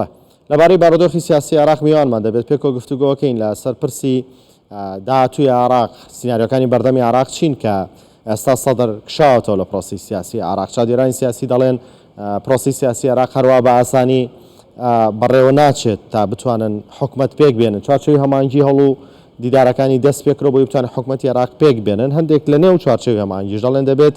بە. لەبارەی بارودۆخی سیاسی عێراق میوانمان دەبێت پێکەوە گفتوگۆکەین لە سەر پرسی داهاتوی عراق سینناریۆکانی بەردەمی عراق چین کە ئێستا سەدر کشاوەتەوە لە پرۆسی سیاسی عراق چادێرانی سیاسی دەڵێن پرۆسی سیاسی عراق هەروە بە ئاسانی بەڕێوە ناچێت تا بتوانن حکومت پێک بێنن چوارچوی هەمانگی هەڵو دیدارەکانی دەست پێکرۆ بۆی بتوان حکومەتی عراق پێک بێنن هەندێک لە نێو چوارچوی هەمانگیش دەڵێن دەبێت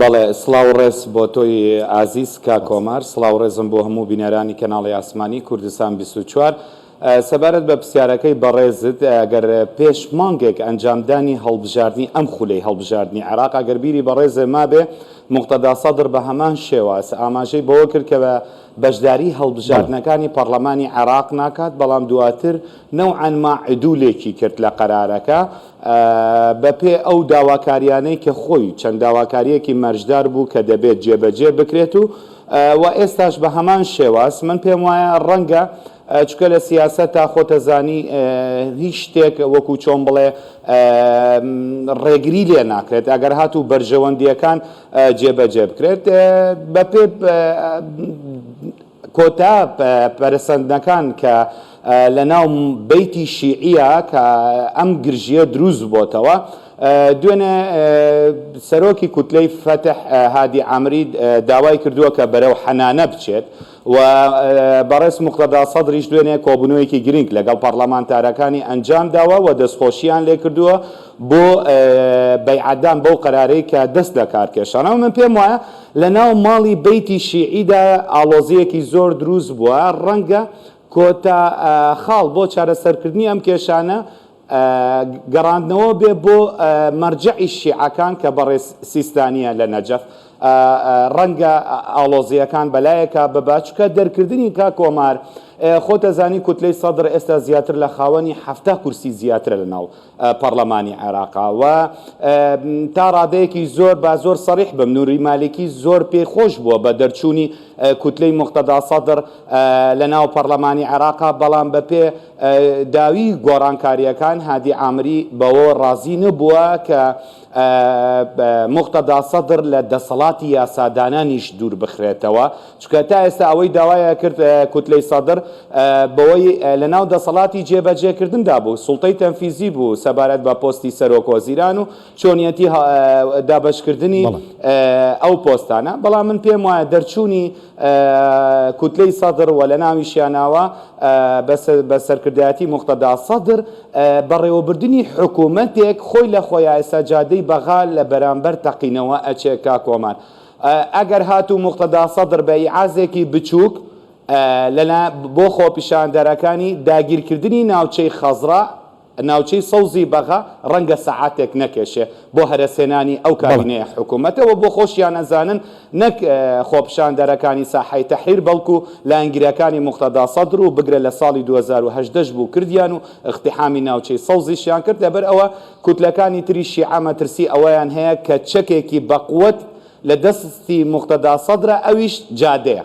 بەڵێ سڵاو ڕێز بۆ تۆی ئازیز کاک ئۆمار سڵاو ڕێزم بۆ هەموو بینەرانی کەناڵی ئاسمانی کوردستان بیست و چوار سەبارەت بە پرسیارەکەی بەڕێزت ئەگەر پێش مانگێک ئەنجامدانی هەڵبژاردنی ئەم خولەی هەڵبژاردنی عێراق ئەگەر بیری بەڕێزێ مابێ مقتەدا سەدر بە هەمان شێواز ئاماژەی بەوە کرد کە بەشداری هەڵبژاردنەکانی پەڕلەمانی عێراق ناکات، بەڵام دواتر نەوعەن ما عدولێکی کرد لە قەرارەکە بە پێ ئەو داواکاریانەی کە خۆی چەند داواکاریەکی مەرجدار بوو کە دەبێت جێبەجێ بکرێت و وە ئێستاش بە هەمان شێواز من پێم وایە ڕەنگە چونکە لە سیاسەتا خۆتەزانی هیچ شتێک وەکو چۆن بڵێ ڕێگری لێ ناکرێت ئەگەر هاتوو بەرژەوەندیەکان جێبەجێ بکرێت بە پێ کۆتا پەرسەندنەکان کە لە ناو بیتی شیعە کە ئەم گرژیە دروست بۆتەوە دوێنێ سەرۆکی کوتلەی فەتح هادی ئامرید داوای کردووە کە بەرەو حەنانە بچێت و بەڕێز موقتەدا سەدریش دوێنێ کۆبوونەوەیەکی گرنگ لەگەڵ پەڕلەمانتارەکانی ئەنجام داوە و دەستخۆشییان لێ کردووە بۆ بەیعەتدان بەو قەرارەی کە دەست لە کار کێشان. ئەوە من پێم وایە لە ناو ماڵی بەیتی شیعیدا ئاڵۆزییەکی زۆر دروست بووە، ڕەنگە کۆتا خاڵ بۆ چارەسەرکردنی ئەم کێشانە گەڕاندنەوە بێ بۆ مەرجەعی شیعەکان کە بەڕێز سیستانیە لە نەجەف ڕەنگە ئاڵۆزیەکان بەلایەکە ببە چکە دەرکردنی کا کۆمار خۆتەزانی کوتلەی سەدر ئێستا زیاتر لە خاوەنی حفتا کورسی زیاترە لە ناو پەرلەمانی عێراقا و تا ڕادەیەکی زۆر با زۆر سەریح بم نوری مالکی زۆر پێی خۆش بووە بە دەرچوونی کوتلەی مختدا سەدر لە ناو پەرلەمانی عێراقا بەڵام بە پێ داوی گۆڕانکارییەکان هادی عامری بەوەوە ڕازی نەبووە کە موقتەدا سەدر لە دەسەڵاتی یاسادانانیش دووربخرێتەوە، چونکە تا ئێستا ئەوەی داوایکرد کوتلەی سەدر بەوەی لەناو دەسەڵاتی جێبەجێکردندا بوو، سوڵتەی تەنفیزی بوو سەبارەت بە پۆستی سەرۆکوەزیران و چۆنیەتی دابەشکردنی ئەو پۆستانە، بەڵام من پێم وایە دەرچوونی کوتلەی سەدڕ و لەناویشیانەوە بە سەرکردایەتی موقتەدا سەدر بەڕێوەبردنی حکومەتێک خۆی لە خۆیا ئێستا جادەی بەغا لە بەرامبەر تەقینەوە ئەچێ کاک کۆمار ئەگەر هاتوو موقتەدا سەدر بە ئیعازێکی بچووک بۆ خۆپیشاندەرەکانی داگیرکردنی ناوچەی خەزڕا ناوچەی سەوزی بەغا ڕەنگە سەعاتێک نەکێشێ بۆ هەرەسهێنانی ئەو کابینەیە حکوومەتە و بۆ خۆشیان ئەزانن نەک خۆپیشاندەرەکانی ساحەی تەحریر بەڵکوو لایەنگرەکانی موقتەدا سەدر و بگرە لە ساڵی دوو هەزار و هەژدە ش بوو کردیان و ئیقتیحامی ناوچەی سەوزیشیان کرد لەبەر ئەوە کوتلەکانی تری شیعە مەترسی ئەوەیان هەیە کە چەکێکی بەقوەت لە دەستی موقتەدا سەدرە ئەویش جادەیە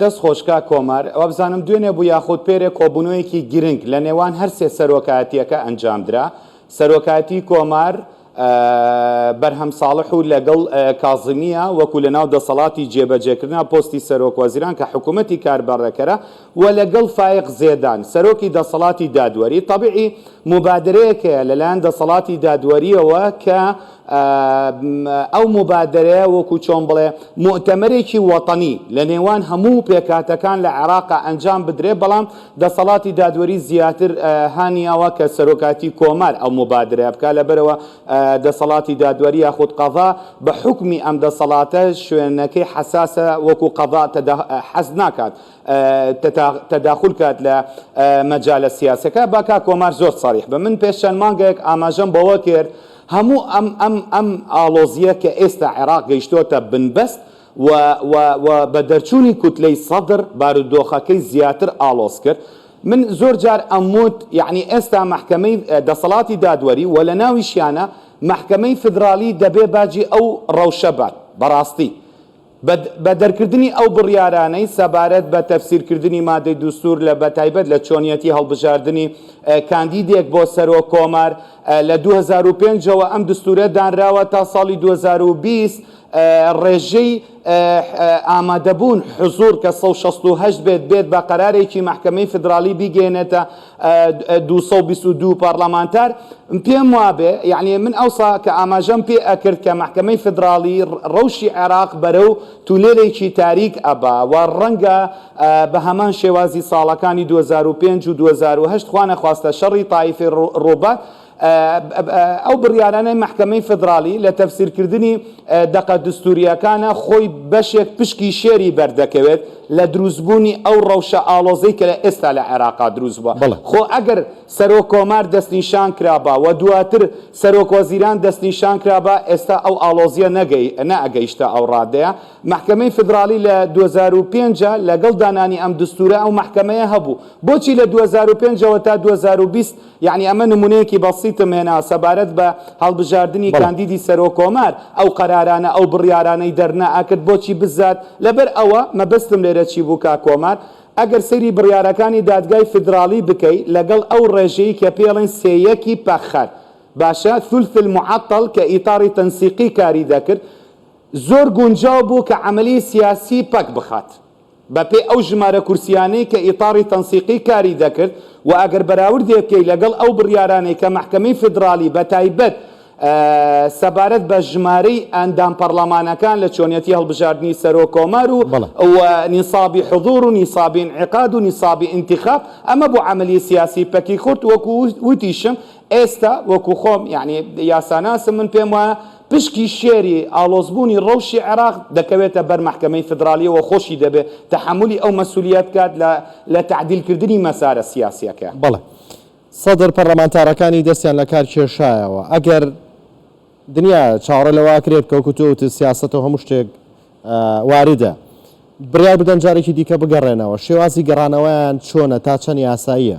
دەست خۆش کاک کۆمار وابزانم دوێنێ بوو یاخود پێرێ کۆبوونەوەیەکی گرنگ لە نێوان هەر سێ سەرۆکایەتیەکە ئەنجامدرا سەرۆکایەتی کۆمار بەرهەم ساڵح و لەگەڵ کازمیە وەکو لە ناو دەسەڵاتی جێبەجێکردنا پۆستی سەرۆک وەزیران کە حکوومەتی کاربەڕێکەرە و لەگەڵ فایق زێدان سەرۆکی دەسەڵاتی دادوەری طبعی مبادرەیەکەیە لەلایەن دەسەڵاتی دادوەریەوە کە ئەو موبادەرەیە وەکو چۆن بڵێ موئتەمەرێکی وەتەنی لە نێوان هەموو پێکهاتەکان لە عێراقا ئەنجام بدرێ بەڵام دەسەڵاتی دادوەری زیاتر هانیاوە کە سەرۆکاتی کۆمار ئەو موبادەرەیە بکا لەبەرەوە دەسەڵاتی دادوەری یاخود قەضا بە حوکمی ئەم دەسەڵاتە شوێنەکەی حەساسە وەکو قەضا حەز ناکات تەداخول کات لە مەجالە سیاسەکە با کاک کۆمار زۆر سەریح بە من پێش چەند مانگێک ئاماژەم بەوە کرد هەموو ئەم ئەم ئەم ئاڵۆزیە کە ئێستا عێراق گەیشتۆتە بنبەست و و و بە دەرچوونی کوتلەی سەدر بارودۆخەکەی زیاتر ئاڵۆز کرد، من زۆر جار ئەموت یەعنی ئێستا مەحکەمەی دەسەڵاتی دادوەری و لە ناویشیانە مەحکەمەی فیدرالی دەبێ باجی ئەو ڕەوشە بات بەڕاستی. بە دەرکردنی ئەو بڕیارانەی سەبارەت بە تەفسیرکردنی مادەی دوستور لە بە تایبەت لە چۆنیەتی هەڵبژاردنی کاندیدێک بۆ سەرۆک کۆمار لە دوو هەزار و پێنج ەوە ئەم دستورە دانراوە تا ساڵی دوو هەزار و بیست ڕێژەی ئامادەبوون حزوڕ کە سەد و شەست و هەشت بێت بێت بە قەرارێکی مەحکەمەی فیدراڵی بیگەیەنێتە دوو سەد و بیست و دوو پارلەمانتار پێم وابێ یعنی من ئەوسا کە ئاماژەم پێ ئەکرد کە مەحکەمەی فیدراڵی ڕەوشی عێراق بەرەو تونێلێکی تاریک ئەبا و ڕەنگە بە هەمان شێوازی ساڵەکانی دوو هەزار و پێنج و دوو هەزار و هەشت خوانەخواستە شەڕی تایفی ڕووبار ئەو بڕیارانەی مەحکەمەی فیدراڵی لە تەفسیرکردنی دەقە دستوورییەکانە خۆی بەشێک پشکی شێری بەر دەکەوێت لە دروستبوونی ئەو ڕەوشە ئاڵۆزەی کە ئێستا لە عێراقا دروست بووە. خۆ ئەگەر سەرۆککۆمار دەستنیشان کرابا و دواتر سەرۆکوەزیران دەستنیشان کرابا، ئێستا ئەو ئاڵۆزییە نەئەگەیشتە ئەو ڕادەیە. مەحکەمەی فیدراڵی لە دوو هەزار و پێنج لەگەڵ دانانی ئەم دستوورە ئەو مەحکەمەیە هەبوو. بۆچی لە دوو هەزار و پێنج ەوە تا دوو هەزار و بیست یەعنی ئەمە نمونەیەکی بەسیتم هێنا سەبارەت بە هەڵبژاردنی بەڵێ. کاندیدی سەرۆک کۆمار، ئەو قەرارانە ئەو بڕیارانەی دەرنا ئەکرد بۆچی بزات، لەبەر ئەوە مەبەستم لێرە چی بوو کاک کۆمار، ئەگەر سەیری بڕیارەکانی دادگای فیدراڵی بکەی لەگەڵ ئەو ڕێژەی کە پێڵێن سێ یەکی پەخەر باشە ثلث المعطل کە ئیطار تنسیقی کاری دەکرد زۆر گونجاو بوو کە عەمەلی سیاسی پەک بخات. بەپێی ئەو ژمارە کورسییانەی کە ئیتاڕی تەنسیقی کاری دەکرد و ئەگەر بەراوردێ بکەی لەگەڵ ئەو بڕیارانەی کە مەحکەمەی فیدراڵی بەتایبەت سەبارەت بە ژمارەی ئەندام پەڕڵەمانەکان لە چۆنیەتی هەڵبژاردنی سەرۆک کۆمار و و نیسابی حضور و نیسابی انعقاد و نیسابی انتخاب ئەمە بۆ عەمەلی سیاسی پەکی خورد وەکو وتیشم ئێستا وەکو خۆم یانی یاساناسم من پێم وایە پشکی شێری ئاڵۆزبوونی ڕەوشی عێراق دەکەوێتە بەر مەحکەمەی فیدراڵییەوە خۆشی دەبێ تەحەمولی ئەو مەسولیە بکات لە لە تەعدیل کردنی مەسارە سیاسیەکە. بەڵێ سەدر پەڕلەمانتارەکانی دەستیان لە کار کێشایەوە ئەگەر دنیا چاوەڕێ لەوە ئەکرێت کە وەکو تۆ وتت سیاسەت و هەموو شتێک واردە بڕیار بدەن جارێکی دیکە بگەڕێنەوە شێوازی گەڕانەوەیان چۆنە تا چەند یاساییە؟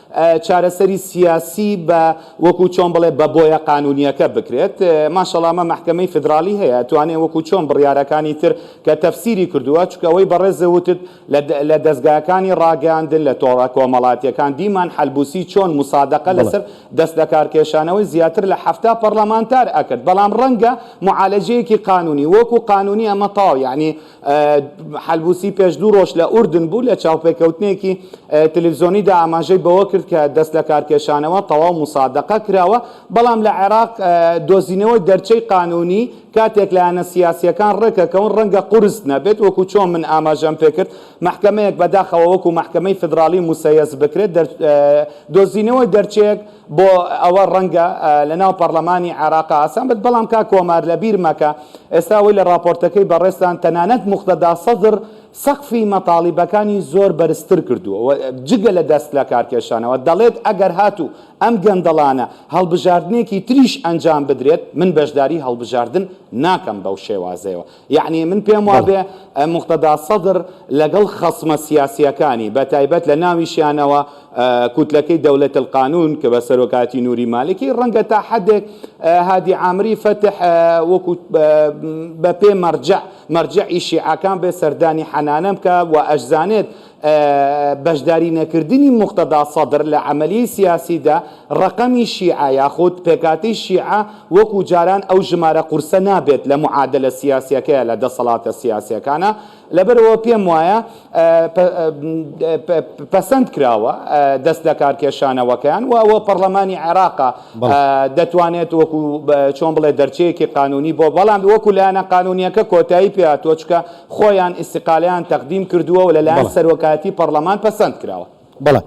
چارەسەری سیاسی بە وەکو چۆن بڵێ بە بۆیە قانونیەکە بکرێت ماشەڵا ئەمە مەحکەمەی فیدراڵی هەیە ئەتوانێ وەکو چۆن بڕیارەکانی تر کە تەفسیری کردووە چونکە ئەوەی بەڕێزت وتت لە دەزگاکانی ڕاگەیاندن لە تۆڕە کۆمەڵاتیەکان دیمان حەلبوسی چۆن موسادەقە لەسەر دەست لەکارکێشانەوەی زیاتر لە حەفتا پەڕلەمانتار ئەکرد بەڵام ڕەنگە معالەجەیەکی قانونی وەکو قانونی ئەمە تەواو یەعنی حەلبوسی پێش دوو ڕۆژ لە ئوردن بوو، لە چاوپێکەوتنێکی تەلەفزیۆنیدا ئاماژەی بەوە کرد کە دەستلەکارکێشانەوە تەواو موسادەقە کراوە، بەڵام لە عێراق دۆزینەوەی دەرچەی قانوونی کاتێک لایەنە سیاسییەکان ڕێکەکەون ڕەنگە قورس نەبێت، وەکو چۆن من ئاماژەم پێکرد مەحکەمەیەک بەداخەوە وەکو مەحکەمەی فیدراڵی موسەیەس بکرێت دۆزینەوەی دەرچەیەک بۆ ئەوە ڕەنگە لە ناو پەڕلەمانی عێڕاقا ئاسان بێت بەڵام کاک کۆمار لە بیر مەکە ئێستا ئەوەی لە ڕاپۆرتەکەی بەڕێزتان تەنانەت موقتەدا سەدڕ سەقفی مەتاڵیبەکانی زۆر بەرزتر کردووە و جگە لە دەست لە کار کێشانەوە دەڵێت ئەگەر هاتوو ئەم گەندەڵانە هەڵبژاردنێکی تریش ئەنجام بدرێت من بەشداری هەڵبژاردن ناکەم بەو شێوازەیەوە یەعنی من پێم بەڵێ وابێ موقتەدا سەدر لەگەڵ خەسمە سیاسییەکانی، بەتایبەت لە ناویشیانەوە کوتلەکەی دەولەت القانون کە بە سەرۆکایەتی نوری مالکی، ڕەنگە تا حەدێک هادی عامری فەتح وەکو بە پێ مەرجەع، مەرجەعی شیعەکان بێ سەردانی حەنانم بکا و ئەشزانێت بەشداری نەکردنی موقتەدا سەدر لە عەمەلیەی سیاسیدا ڕەقەمی شیعە یاخود پێکهاتەی شیعە وەکو جاران ئەو ژمارە قورسە نابێت لە معادەلە سیاسیەکەیا لە دەسەڵاتە سیاسیەکانا لەبەرئەوە پێم وایە پەسەند کراوە دەست لەکارکێشانەوەکەیان و ئەوە پەڕلەمانی عێراقە دەتوانێت وەکو چۆن بڵێ دەرچەیەکی قانونی بۆ بەڵام وەکو لایەنە قانونیەکە کۆتایی پێاتوە چکە خۆیان ئیستیقالەیان تەقدیم کردووە و لەلایەن بەڵێ. سەرۆکایەتی پەڕڵەمان پەسەند کراوە. بەڵێ.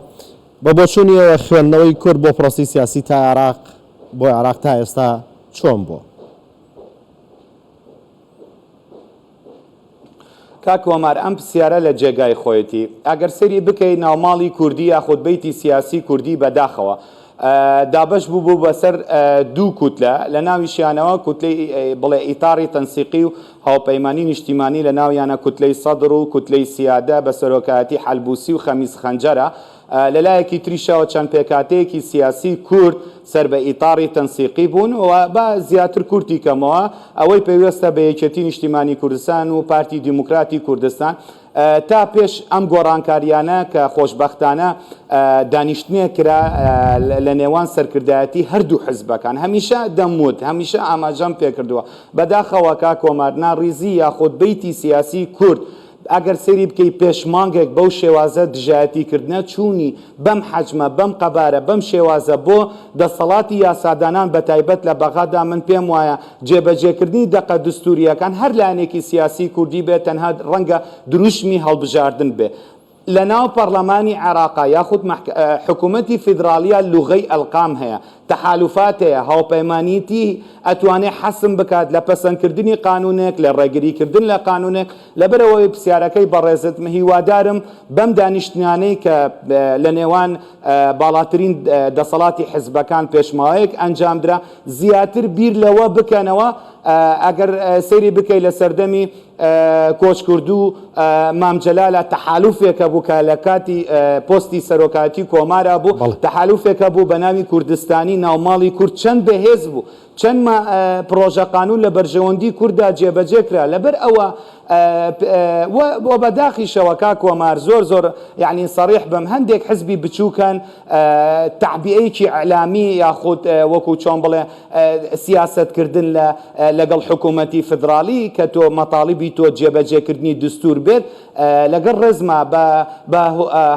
بە بۆچوونی ئێوە خوێندنەوەی کورد بۆ پرۆسەی سیاسی تا عێراق بۆ عێراق تا ئێستا چۆن بووە؟ کاک ئۆمار ئەم پسیارە لە جێگای خۆیەتی. ئەگەر سەیری بکەی ناوماڵی کوردی یاخود بەیتی سیاسی کوردی بەداخەوە. دابەش بووبوو بەسەر دوو کوتلە، لە ناویشیانەوە کوتلەی بڵێ ئیتاڕی تەنسیقی و هاوپەیمانی نیشتیمانی لە ناویانە کوتلەی سەدڕ و کوتلەی سیادە بە سەرۆکایەتی حەلبوسی و خەمیس خەنجەرە، لە لایەکی تریشەوە چەند پێکهاتەیەکی سیاسی کورد سەر بە ئیتاڕی تەنسیقی بوون و با زیاتر کورتی کەمەوە ئەوەی پەیوەستە بە یەکێتی نیشتیمانی کوردستان و پارتی دیموکراتی کوردستان تا پێش ئەم گۆڕانکارییانە کە خۆشبەختانە دانیشتنێک کرا لە نێوان سەرکردایەتی هەردوو حزبەکان، هەمیشە دەموت، هەمیشە ئاماژەم پێکردووە، بەداخەوە کاک کۆمار، ناڕیزی یاخود بیتی سیاسیی کورد ئەگەر سەیری بکەی پێش مانگێک بەو شێوازە دژایەتیکردنە چوونی بەم حەجمە، بەم قەبارە، بەم شێوازە بۆ دەسەڵاتی یاسادانان بەتایبەت لە بەغادا من پێموایە جێبەجێکردنی دەقە دستوورییەکان هەر لایەنێکی سیاسیی کوردی بێت تەنها ڕەنگە دروشمی هەڵبژاردن بێ لەناو پەڕڵەمانی عێڕاقا یاخود مەحک حکوومەتی فیدڕاڵیا لوغەی ئەلقام هەیە تەحالوفات هەیە هاوپەیمانیی ئەتوانێ حەسم بکات لە پەسەندکردنی قانوونێک لە ڕێگریکردن لە قانوونێک لەبەر ئەوەی پرسیارەکەی بەڕێزت هیوادارم بەم دانیشتنانەی کە لە نێوان باڵاترین دەسەڵاتی حزبەکان پێش ماوەیەک ئەنجام درا زیاتر بیر لەوە بکەنەوە ئەگەر سەیری بکەی لە سەردەمی کۆچکردوو مام جەلالە تەحالوفێکە بوو کە لە کاتی پۆستی سەرۆکایەتی کۆمارا بوو بەڵێ تەحالوفێکە بوو بە ناوی کوردستانی ناوماڵی کورد چەند بەهێز بوو چەند پڕۆژە قانون لە بەرژەوەندی کورددا جێبەجێ کرا لەبەر ئەوە وە بە داخیشەوە کاک کۆمار زۆر زۆر یانی سەڕیح بم هەندێک حزبی بچوکن تەعبیەیەکی ئیعلامی یاخود وەکو چۆن بڵێ سیاسەت کردن لە لەگەڵ حکومەتی فدڕاڵی کە تۆ مەتاڵبی تۆ جێبەجێ کردنی دستور بێت لەگەڵ ڕێزما بە بە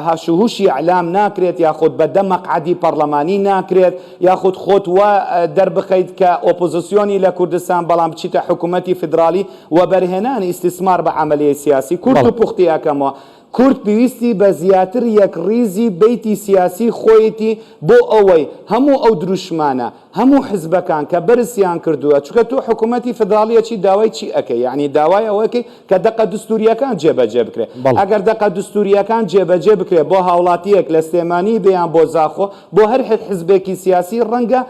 هاش و هوشی ئیعلام ناکرێت یاخود بە دە مەقعەدی پەڕلەمانی ناکرێت یاخود خۆت وا دەربخەیت کە ئۆپۆزسیۆنی لە کوردستان بەڵام بچیتە حکومەتی فدڕاڵی وەبەرهێنانی ئیستیسمار بە عەمەلیەی سیاسی کورد و پوختی ئەکەمەوە. کورد پێویستی بە زیاتر یەکڕیزی بیتی سیاسی خۆیەتی بۆ ئەوەی هەموو ئەو دروشمانە، هەموو حزبەکان کە بەرزیان کردووە، چونکە تۆ حکومەتی فدراڵیەکی داوای چی ئەکەی؟ یەعنی داوای ئەوە ئەکەی کە دەقە دستوریەکان جێبەجێ بکرێ. ئەگەر دەقە دستوریەکان جێبەجێ بکرێ بۆ هاوڵاتیەک لە سلێمانی بێ یان بۆ زاخۆ، بۆ هەر حزبێکی سیاسی ڕەنگە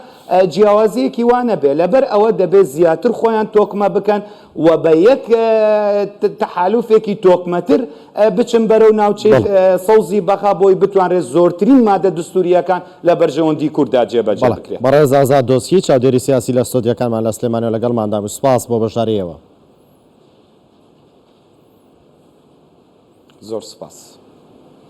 جیاوازییەکی وا نەبێت، لەبەر ئەوە دەبێت زیاتر خۆیان تۆکمە بکەن و بە یەک تەحالوفێکی تۆکمەتر بچن بەرەو ناوچەی بەڵێ. سەوزی بەغا بۆی بتوانرێت زۆرترین مادە دستوورییەکان لە بەرژەوەندی کورددا جێبەجێ بەڵێ. بکرێت. بەڕێز ئازاد دۆسکی، چاودێری سیاسی لە ستۆدیۆکانمان لە سلێمانییەوە لەگەڵماندا بوو. سپاس بۆ بەشدارییەوە. زۆر سپاس.